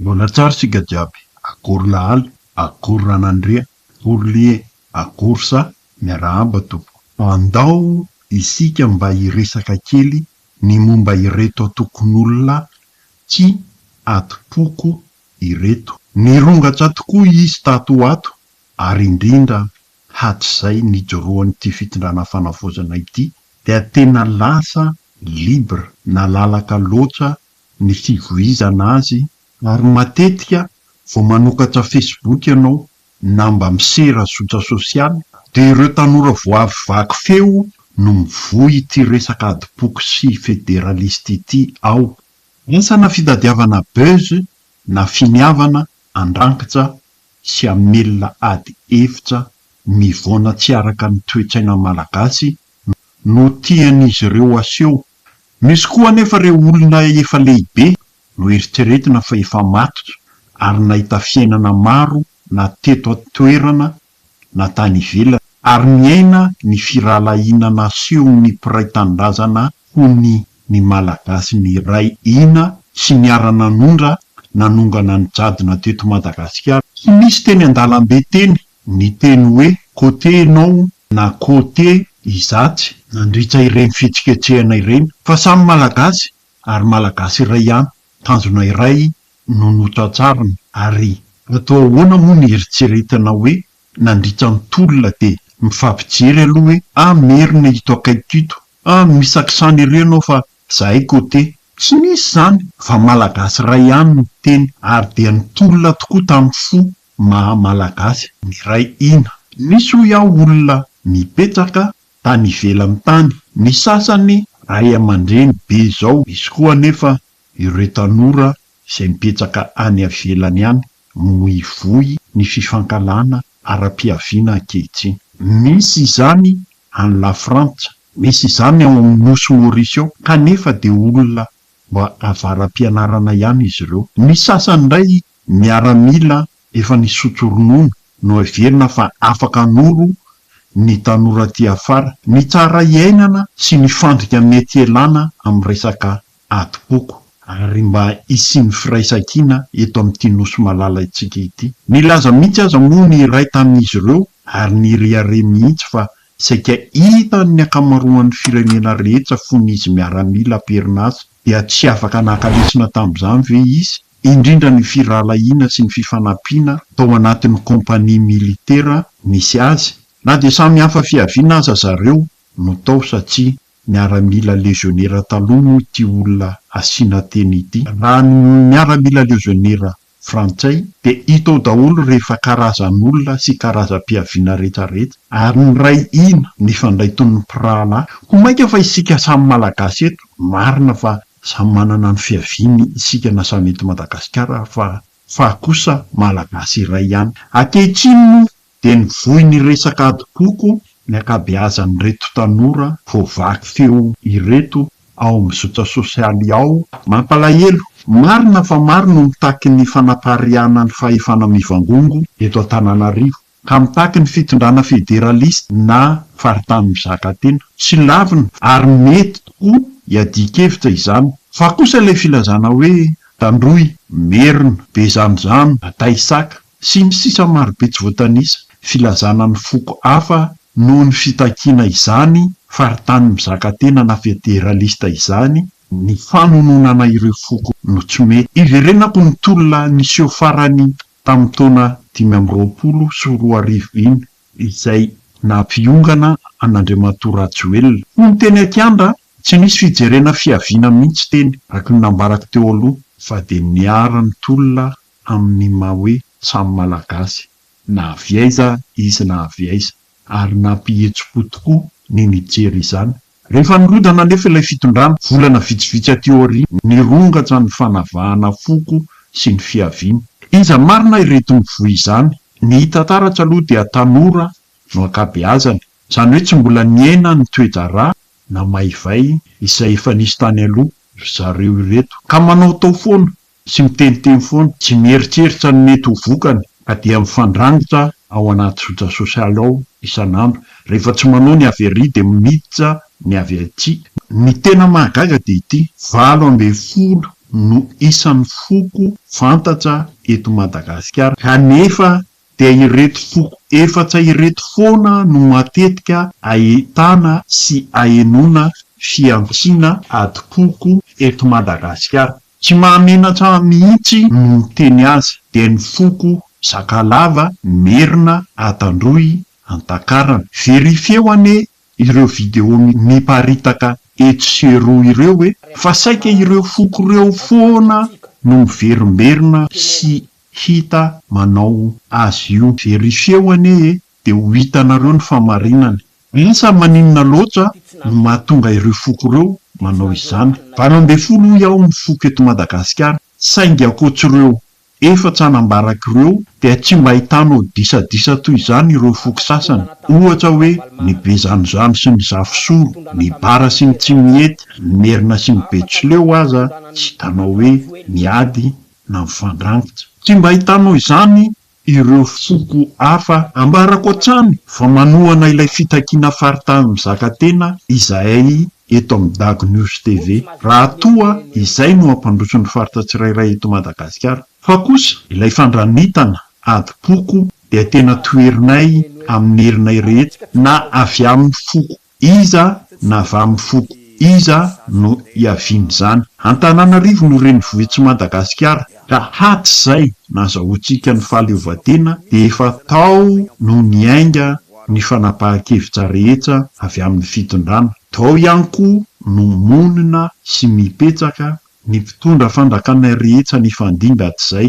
Mbola tsara isika jiaby, akory lahaly, akory ranandria, akory lie, akory sa, miarahaba tompoko. Andao isika mba hiresaka kely ny momba ireto antokon'olona tsy atimpoko ireto. Nirongatsa tokoa izy tato ho ato ary indrindra hatrizay nijoroan'ity fitondrana fanavaozana ity dia tena lasa libre, nalalaka loatra ny fivoizana azy ary matetika vao manokatra Facebook ianao na mba misera zotra sosialy dia ireo tanora vao avy vaky feo no mivoy ity resaka adim-poko sy federalista ity ao. Asa na fitadiavana buzz na finiavana andrankitra sy hamelona ady hevitra mivaona tsy araka ny toe-tsaina malagasy no tian'izy ireo aseho Misy koa anefa ireo olona efa lehibe no eritreretina fa efa maty ary nahita fiainana maro na teto an-toerana na tany ivelany ary niaina ny firahalahiana nasehon'ny mpiray tanindrazana ho ny ny Malagasy niray hina sy niara-nanondra nanongana ny jadona teto Madagasikara. Tsy nisy teny an-dalambe teny Ny teny hoe côté ianao na côté izatsy nandritra ireny fihetsiketsehana ireny fa samy Malagasy ary Malagasy iray ihany, tanjona iray no notrantsarina ary atao ahoana moa ny eritreretana hoe nandritra ny tolona dia mifampijery aloha hoe ah merina ito akaikiko ito, ah misy accent ery ianao fa zahay côté. Tsy nisy izany fa Malagasy iray ihany no niteny ary dia nitolona tokoa tamin'ny fo maha Malagasy miray hina. Nisy hoy aho olona nipetraka tany ivelany tany, ny sasany ray aman-dreny be izao, misy koa anefa ireo tanora izay mipetraka any ivelany any no mivoy ny fifankahalana ara-piaviana ankehitriny. Misy izany any Lafrantsa, misy izany ao amin'ny Nosy Maurice ao, kanefa dia olona mba avara-pianarana ihany izy ireo. Ny sasany indray Miaramila efa nisotro ronono no heverina fa afaka hanoro ny tanora aty afara. Ny tsara iainana sy ny fandrika mety ialana amin'ny resaka adim-poko. Ary mba hisian'ny firaisankina eto amin'ity Nosy malalaintsika ity. Nilaza mihitsy aza moa ny iray tamin'izy ireo ary nirehareha mihitsy fa saika hitan'ny ankamaroan'ny firenena rehetra fony izy miaramila am-perinasa. Dia tsy afaka naka lesona tamin'izany ve izy? indrindra ny firahalahiana sy ny fifanampiana tao anatin'ny kaompania militera nisy azy, na dia samy hafa fiaviana aza zareo no tao satria miaramila lezionera taloha moa ity olona asiana teny ity. Raha ny miaramila lezionera frantsay dia hita ao daholo rehefa karazan'olona sy karazam-piaviana rehetrarehetra ary miray hina mifandray toy ny mpirahalahy. Koa mainka fa isika samy malagasy eto, marina fa Samy manana ny fiaviany isika na samy eto Madagasikara fa fa kosa Malagasy iray ihany. Ankehitriny moa dia nivoy ny resaka adim-poko ny ankabeazan'ireto tanora vao vaky feo ireto ao amin'ny zotra sosialy ao. Mampalahelo, marina fa maro no mitaky ny fanapariahana ny fahefana mivangongo eto Antananarivo. ka mitaky ny fitondrana federalista na faritany mizaka tena. Tsy lavina ary mety tokoa iadian-kevitra izany. Fa kosa ilay filazana hoe, Tandroy, Merina, Bezanozano, Bataisaka, sy ny sisa marobe tsy voatanisa, filazana ny foko hafa noho ny fitakiana izany faritany mizaka tena na federalista izany, ny fanononana ireo foko no tsy mety. Iverenako ny tolona niseho farany Tamin'ny taona dimy amby roapolo sy roa arivo iny izay naha-mpiongana an'Andriamatoa Rajoelina. Hono teny an-kianja tsy nisy fijerena fiaviana mihitsy teny, araka ny nambarako teo aloha, fa dia niharan'ny tolona amin'ny maha hoe samy Malagasy na avy aiza izy na avy aiza, ary nampihetsi-po tokoa ny nijery izany. Rehefa nirodana anefa ilay fitondrana, volana vitsivitsy aty aoriana, nirongatsa ny fanavahana foko sy ny fiaviana. Iza marina ireto mivoy izany? Ny hita taratra aloha dia tanora no ankabeazany, izany hoe tsy mbola niaina ny toe-draharaha na maivay izay efa nisy tany aloha ry zareo ireto, ka manaotao foana. sy miteniteny foana, tsy mieritreritra ny mety ho vokany ka dia mifandrangotra ao anaty zotra sosialy ao isan'andro. Rehefa tsy manao ny avy arỳ dia miditra ny avy atsy. Ny tena mahagaga dia ity, valo ambin'ny folo no isan'ny foko fantatra eto Madagasikara kanefa dia ireto foko efatra ireto foana no matetika ahitana sy ahenoana fihantsiana adim-poko eto Madagasikara. Tsy mahamenatra mihitsy no miteny azy dia ny foko Sakalava, Merina, Antandroy, Antakarana. Verifieo anie ireo video miparitaka etsy sy eroa ireo e! Fa saika ireo foko ireo foana no miverimberina sy hita manao azy io. Verifieo anie e de ho hitanareo ny famarinany. Lasa maninona loatra no mahatonga ireo foko ireo manao izany. Valo ambin'ny folo hoy aho ny foko eto Madagasikara saingy ankoatr'ireo efatra nambarako ireo dia tsy mba ahitanao disadisa toy izany ireo foko sasany ohatra hoe ny Bezanozano sy ny Zafisoro, ny Bara sy ny Tsimihety, ny Merina sy ny Betsileo aza tsy hitanao hoe miady na mifandrangotra. Tsy mba hitanao izany ireo foko hafa? Ambarako hatrany fa manohana ilay fitakiana faritany mizaka tena izahay eto amin'ny Dago News TV, raha toa izay no hampandroso ny faritra tsirairay eto Madagasikara. Fa kosa ilay fandranitana adim-poko dia tena toherinay amin'ny herinay rehetra na avy amin'ny foko Iza na avy amin'ny foko iza no hiavian'izany? Antananarivo no renivohitsi Madagasikara ka hatrizay nazahoantsika ny fahaleovantena dia efa tao no niainga ny fanapahan-kevitra rehetra avy amin'ny fitondrana. Tao ihany koa no monina sy mipetraka ny mpitondra fanjakana rehetra nifandimby hatrizay.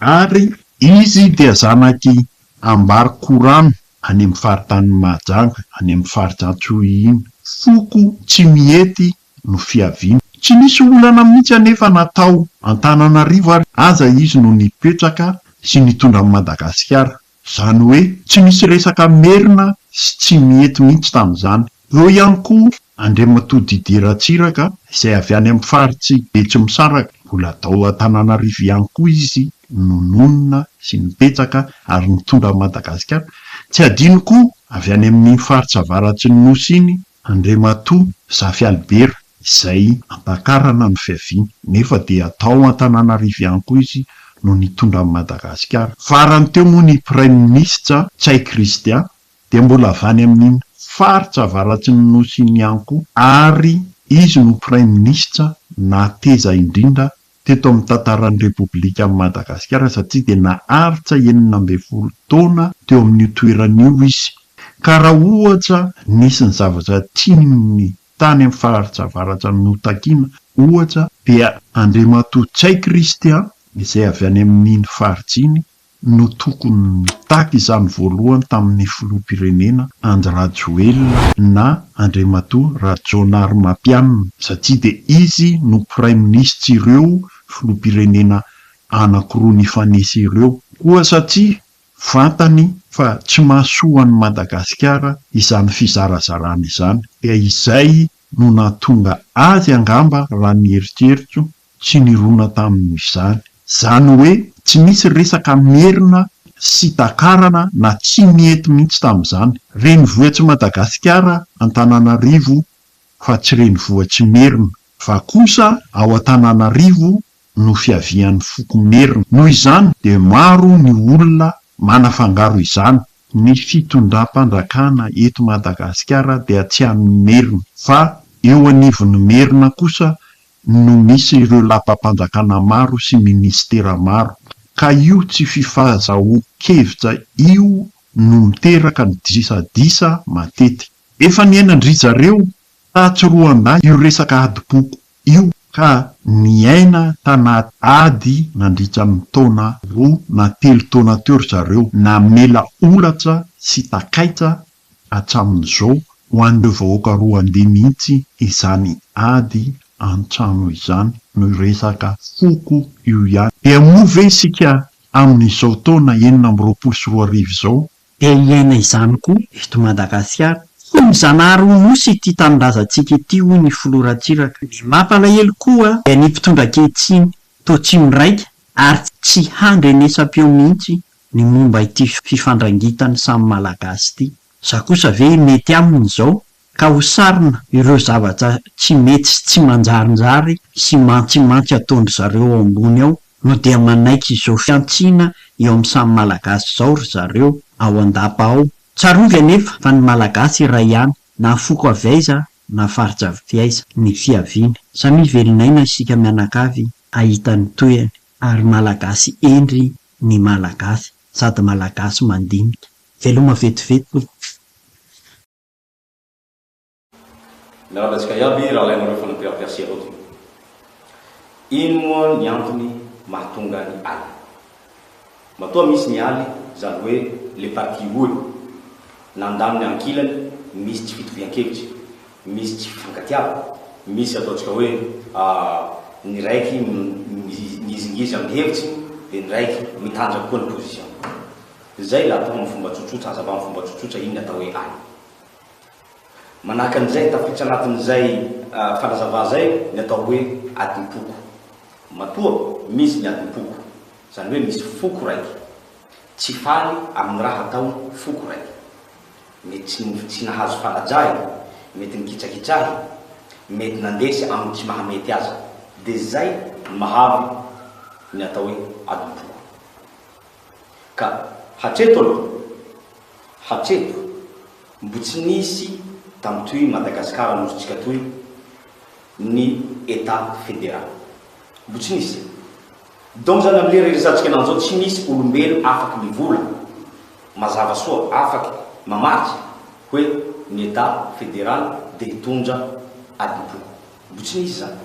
Ary izy dia zanak' i Ambar Khurram any amin' ny faritanin' i Mahajanga, any amin' ny farij' Antiohian. Foko tsy mihety no fiaviany. Tsy nisy olana mihitsy anefa na tao Antananarivo ary aza izy no nipetraka sy nitondra an' i Madagasikara. Izany hoe tsy misy resaka merina sy tsy mihety mihitsy tamin'izany. Eo ihany koa Andriamatoa Didier Ratsiraka izay avy any amin'ny faritsy Betsimisaraka. Mbola tao Antananarivo ihany koa izy no nonina sy nibetsaka ary nitondra an'i Madagasikara. Tsy adino koa avy any amin'iny faritra avaratry ny Nosy iny Andriamatoa Zafy Albert izay ampakarana ny fiaviany nefa dia tao Antananarivo ihany koa izy no nitondra an'i Madagasikara. Farany teo moa ny Praiminisitra Ntsay Christian dia mbola avy any amin'iny faritra avaratsn'ny Nosy iny ihany koa ary izy no Praiminisitra nateza indrindra teto amin'ny tantaran'ny Repoblikan'i Madagasikara satria dia naharitra enina ambin'ny folo taona teo amin'io toerana io izy ka raha ohatra nisy ny zavatra tiany tany amin'ny faritra avaratra notakina ohatra dia Andriamatoa Ntsay Christian izay avy any amin'iny faritra iny no tokony nitaky izany voalohany tamin'ny filoham-pirenena Andry Rajoelina na Andriamatoa Rajaonarimampianina satria dia izy no praiminisits'ireo filoham-pirenena anankiroa nifanesy ireo koa satria fantany fa tsy mahasoa an'i Madagasikara izany fizarazarana izany dia izay no nahatonga azy angamba raha ny eritreritro Tsy nirona tamin' izany. Izany hoe tsy misy resaka Merina sy Takarana na tsy nety mihitsy tamin' izany. Renivohitry Madagasikara Antananarivo fa tsy renivohitry Merina fa kosa ao Antananarivo no fiavian' ny foko Merina. Noho izany dia maro ny olona manafangaro izany. Ny fitondram-panjakana eto Madagasikara dia tsy an' ny Merina fa eo anivon' ny Merina kosa no misy ireo lapam-panjakana maro sy minisitera maro, ka io tsy fifazahoan-kevitra io no miteraka ny disadisa matetika. Efa niainan-dry zareo tatsy Roandah io resaka adim-poko io, ka niaina tanaty ady nandritra ny taona roa na telo taona teo ry zareo, namela holatra sy takaitra hatramin'izao, ho an'ireo vahoaka Roandey mihitsy izany ady an-trano izany no resaka foko io ihany. Dia moa ve isika amin'izao taona enina amby roapolo sy roa arivo izao, dia hiaina izany koa eto Madagasikara? Tsy ny Zanahary ho Nosy ity tanindrazantsika ity hoy ny filoha Ratsiraka. Ny mampalahelo koa dia ny mpitondra ankehitriny toa tsy miraika ary tsy handrenesam-peo mihitsy Ny momba ity fifandrangitan'ny samy Malagasy ity. Za kosa ve mety aminy izao ka ho sarona ireo zavatra tsy mety sy tsy manjarinjary sy mantsimantsy ataondry zareo ao ambony ao no dia manaiky izao fihantsiana eo amin'ny samy Malagasy izao ry zareo ao an-dapa ao? Tsarovy anefa fa ny Malagasy iray ihany na foko avy aiza na faritra avy aiza ny fiaviany. Samia velon'aina isika mianakavy hahita ny tohiny ary Malagasy hendry ny malagasy sady malagasy mandinika. Veloma vetivety tompoko. Miarahaba antsika iaby raha alainareo fanapiram-piase anao ty. Ino moa ny antony mahatonga ny aly? Matoa misy ny aly zany hoe le parti roa e. Nandany ny ankilany misy tsy fitovian-kevitra e. Misy tsy fifankatiavana. Misy ataontsika hoe ny raiky migizingizy amin'ny hevitsy dia ny raiky mitanjaka koa ny position. Izay atao amin'ny fomba tsotsotra, hazava amin'ny fomba tsotsotra inona atao hoe any. Manahaka an'izay, tafiditra anatin'izay fanazavana izay ny atao hoe adim-poko. Matoa misy ny adim-poko, izany hoe misy foko raiky tsy faly amin'ny raha ataon'ny foko raiky. Mety tsy nova tsy nahazo fanajahina, mety nikitsakitsahy, mety nandresy amin'ny tsy maha mety azy. Dia izay no mahavy ny atao hoe adim-poko. Ka hatreto aloha, hatreto, mbo tsy nisy tamin'toy Madagasikara nosintsika toy ny Etat Federal. Mbo tsy nisy. Dont zany am lera iresantsika anao zao tsy misy olombelo afaky mivola mazava soa afaky mamaky hoe ny etat federal dia hitondra adim-po. Mbo tsy misy zany.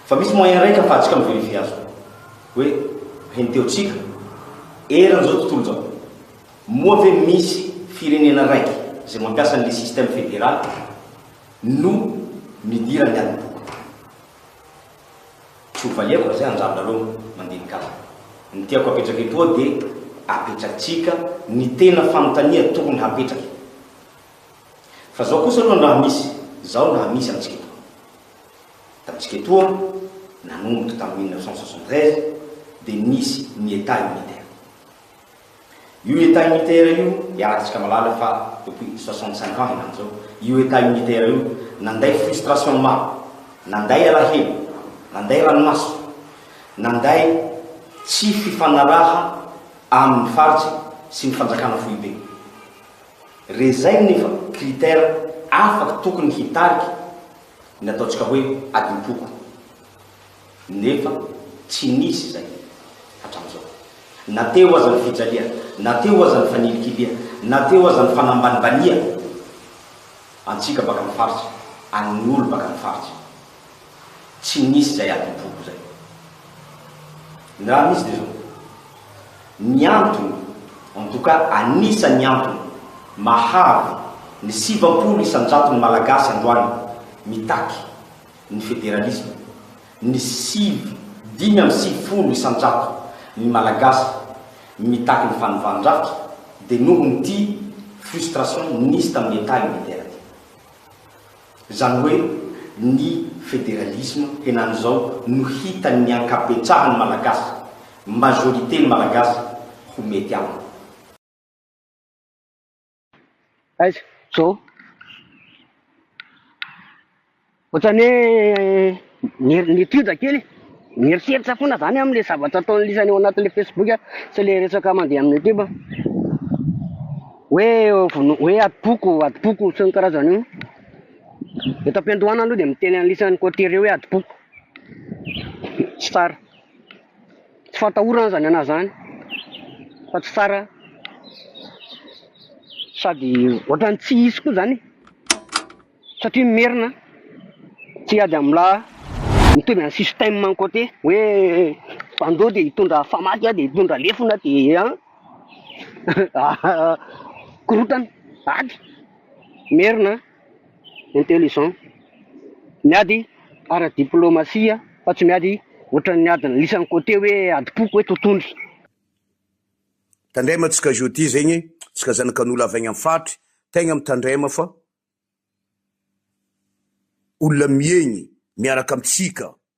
Fa misy moyen raika afahantsika mi verifier azy io. Hoe henteo tsika eran zao tontolo zao moa ve misy firenena raiky zay mampiasa anle system federal no midiran ny adim-po. Tsy ho valiako izay anjambra aloha mandinika ahy. Ny tiako apetraka etoa dia apetratsika ny tena fanontania tokony hapetraky. Fa zao kosa aloha ny raha misy zao ny raha misy amintsika etoa. Tamintsika etoa, nanomboka tamin'ny mille neuf cent soixante-treize, dia nisy ny Etat unitaire. Io Etat unitaire io, iarahantsika mahalala fa depuis soixante cinq ans henany zao, io Etat unitaire io nanday frustration maro, nanday alahelo, nanday ranomaso, nanday tsy fifanaraha aminy faritra sy ny fanjakana foibe. Re zay nefa critère afaka tokony hitarika ny ataontsika hoe adimpoko. Nefa tsy nisy izay hatramin'izao. Na teo aza ny fijaliana, na teo aza ny fanilikilihana, na teo aza ny fanambanibaniana antsika baka amin'ny faritra, an'ny olo baka amin'ny faritra. Tsy nisy izay adim-poko izay. Ny raha misy dia izao, ny antony, en tout cas anisan'ny antony mahavy ny sivampolo isan-jaton'ny Malagasy androany mitaky, ny federalisma, ny sivy dimy amby sivifolo isan-jato ny Malagasy mitaky ny fanovan-drafitra dia noho ny ty frustration nisy tamin'ny Etat unitaire ty. Izany hoe ny federalisma henan'izao no hitan'ny ankabetsahan'ny Malagasy, majorité ny Malagasy, ho mety aminy. Aiza? Zao. Ohatrany hoe ny ny étude kely, mieritreritra foana zany aho amle zavatra ataon'ny lisany ao anatin'le facebook a, sy le resaka mandeha amin'ny youtube, hoe vono- hoe adim-poko, adim-poko sy ny karazany io. Eto am-piandohana aloha dia miteny an'lisany côtier hoe adim-poko. Tsy tsara. Tsy fatahorana aza ny anah zany fa tsy tsara sady ohatrany tsy hisy koa zany satria merina tsy hiady amin'ny la mitovy any système any côté hoe bandeau dia hitondra famaky dia hitondra lefona dia an korontana ady merina intelligent, miady ara diplomasia fa tsy miady ohatran'ny adin'ny lisany côté hoe adim-poko hoe totohondry. Tandrema tsika jeudi zegny e, tsika zanakan'olo avy agny am faritry tegna mitandrema fa olona miegny miaraka amitsika